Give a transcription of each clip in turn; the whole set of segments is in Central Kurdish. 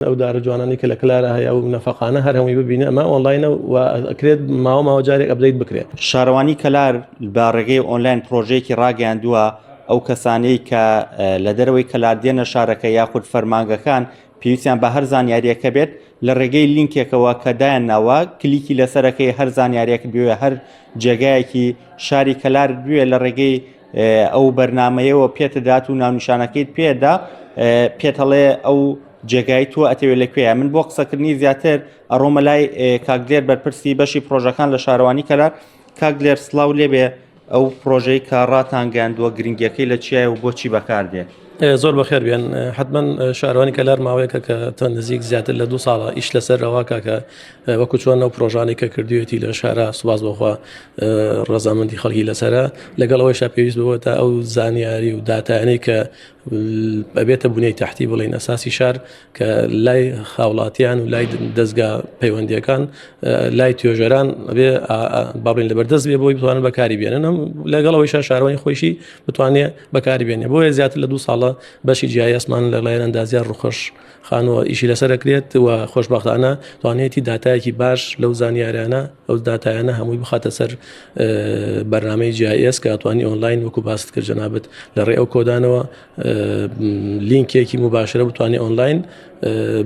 ئەو دارە جوانانەی کە لە کلارا هەیە و نەفەقانە هەر هەمووی ببینە ئەمە ئۆنلاینە و ئەکرێت ماوە ماوە جارێک ئەبدەیت بکرێت شارەوانی کەلار بە ڕێگەی ئۆنلاین پرۆژەیەکی ڕاگەیاندووە ئەو کەسانەی کە لە دەرەوەی کەلار دێنە شارەکە یاخود فەرمانگەکان پێویستیان بە هەر زانیاریەکە بێت لە ڕێگەی لینکێکەوە کە دایان ناوە کلیکی لەسەرەکەی هەر زانیارێک بوێ هەر جێگایەکی شاری کەلار بوێ لە ڕێگەی ئەو بەرنمەیەوە پێتدات و ناونیشانەکەیت پێدا پێت هەڵێ ئەو جێگای تۆ ئەتەوێت لە کوێە من بۆ قسەکردنی زیاتر ئەڕۆمە لای کاکدێر بەرپرسی بەشی پرۆژەکان لە شارەوانی کەلار کاک لێر سلااو لێبێ ئەو پرۆژەی کە ڕاتانگەاندووە گرنگیەکەی لە چیای و بۆچی بەکاردێت زۆر بەخێر بێن حتمما شارەوانی کەلار ماوەیەکە کە تەن نزیک زیاتر لە دو ساڵە ئیش لەسەر رەواکە کە وەکو چۆن ئەو پرۆژانەی کە کردوێتی لە شارە سوباز بەخوا ڕزامەندی خەڵکی لەسرە لەگەڵ ئەوەی شپێویست بووە تا ئەو زانیاری و دااتانەی کە ئەبێتە بوونی تحتی بڵین ئەساسی شار کە لای خاوڵاتیان و لای دەستگا پەیوەندیەکان لای توێژەران ئەبێ باڵین لەبەردەست بێ بۆی بتوانن بەکاری بێنم لەگەڵەوەی شار شارەوەی خۆشی بتوانێت بەکاری بێنێ بۆیە زیاتر لە دو ساڵە بەشی جیایسمان لە لایەن ئەندازیار ڕخۆش خانووە ئیشی لەسەر دەکرێت و خۆشببختانە توانێتی دااتایەکی باش لەو زانیاریانە ئەو دااتایانە هەمووی بخاتە سەر بەرنمەی جیایس کە توانی ئۆنلاین وەکو باست کرد جەنابەت لە ڕێ ئەو کۆدانەوە لینکێکی مباشرە بتوانێت ئۆنلاین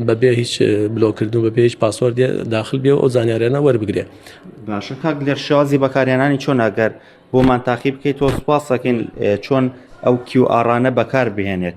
بەبێ هیچ بلۆکردن و بەبێ هیچ پاسۆر داخل بێ ئەو زانیاریانە وەربگرێ باشە کاک لەر شازی بەکارێنانی چۆن ناگەر بۆمان تاقی بکەیت تۆ سپاسەکەین چۆن ئەو کیو ئارانە بەکار بهێنێت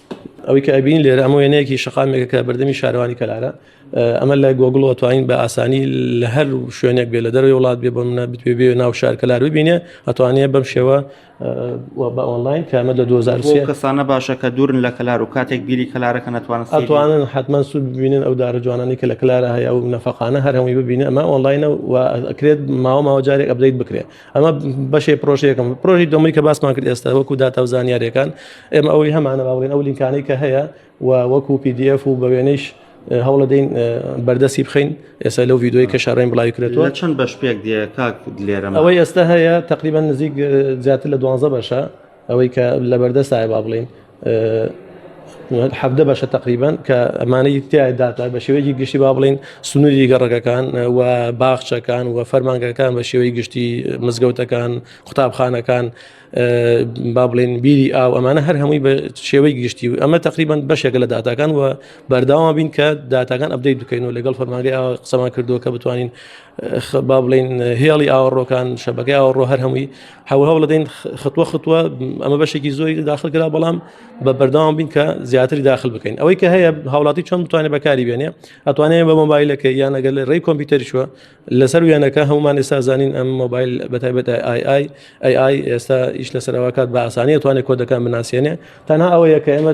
ئەوەی کە ئەبین لێرە ئەمە وێنەیەکی شقامێکە کە بەردەمی شارەوانی کەلارە ئەمە لای گۆگڵ توانین بە ئاسانی لە هەر شوێنێک بێ لە دەرەوەی وڵات بێ بۆ منە بتێ بێ ناو شار کەلار ببینێ ئەتوانێ بەم شێوە بە ئۆنلاین کامە لە 2023 کەسانە باشە کە دوورن لە کەلار و کاتێک بیری کەلارەکە نتوانن ئەتوانن حتمما سوود ببینن ئەو دارە جوانانی کە لە کلارە هەیە و نەفقانە هەر هەمووی ببینە ئەمە ئۆنلاینە و ئەکرێت ماوە ماوەجارێک ئەبدەیت بکرێت ئەمە بەشێ پرۆژەکەم پرۆژی دۆمی کە باسمان کرد ئێستا وەکو داتا و زانیارەکان ئێمە ئەوەی هەمانە باڵێن ئەو لینکانەی کە هەیە و وەکو PDF و بە وێنەیش هەوڵە دەین بەردەسی بخین ئێستا لەو یددیوی کە شارڕێن بڵاوی کرێتەوە چەند بەش پێک دێ کاک لێرە ئەوەی ئێستا هەیە تقریبان نزیک زیاتر لە دوانزە بەشە ئەوەی کە لەبەردەستایە با بڵێین حەبدە بەشە تقریبان کە ئەمانەی تایداتا بە شێوەیەکی گشتی با بڵین سنووری گەڕەکەکان و باخچەکان و فەرمانگەکان بە شێوەی گشتی مزگەوتەکان قوتابخانەکان با بڵێن بیری ئاو ئەمانە هەر هەمووی بە شێوەی گشتی و ئەمە تقریبان بەشێک لە دااتەکان و بەرداوا بین کە دااتەکان ئەبدەی دوکەین و لەگەڵ فەرماگەی قسەمان کردووە کە بتوانین با بڵین هێڵی ئاوەڕۆکان شەبەکە ئاوەڕۆ هەر هەمووی هەوهاو لەدەین خطوە خطوە ئەمە بەشێکی زۆری داخل کرا بەڵام بە بەرداوام بین کە زیاتری داخل بکەین ئەوەی کە هەیە هاوڵاتی چۆن بتوانێت بەکاری بێنێ ئەتوانێت بە مۆبایلەکە یان ئەگەر لە ڕێی کۆمپیوتەرشوە لەسەر وێنەکە هەمومان ئێستا زانین ئەم مۆبایل بەتایبەت ئای ئای ئەی ئای ئێستا ئیش لەسەرەوەکات بە ئاسانی توانێت کۆدەکان بناسیێنێ تەنها ئەوەیە کە ئێمە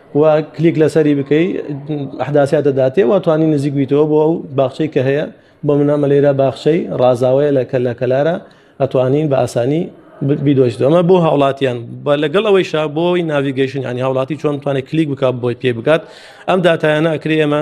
و کلیک لەسەری بکەی ئەحداسیا دەداتێ و توانی نزیک بیتەوە بۆ ئەو باخچەی کە هەیە بۆ منامە لێرە باخچەی ڕازاوەیە لە کەلە کەلارە ئەتوانین بە ئاسانی بیدۆشت ئەمە بۆ هاوڵاتیان بە لەگەڵ ئەوەی شا بۆی ناویگەیشن ینی هاوڵاتی چۆن توانێت کلیک بک بۆی پێ بگات ئەم دااتایانە ئەکرێ ئەمە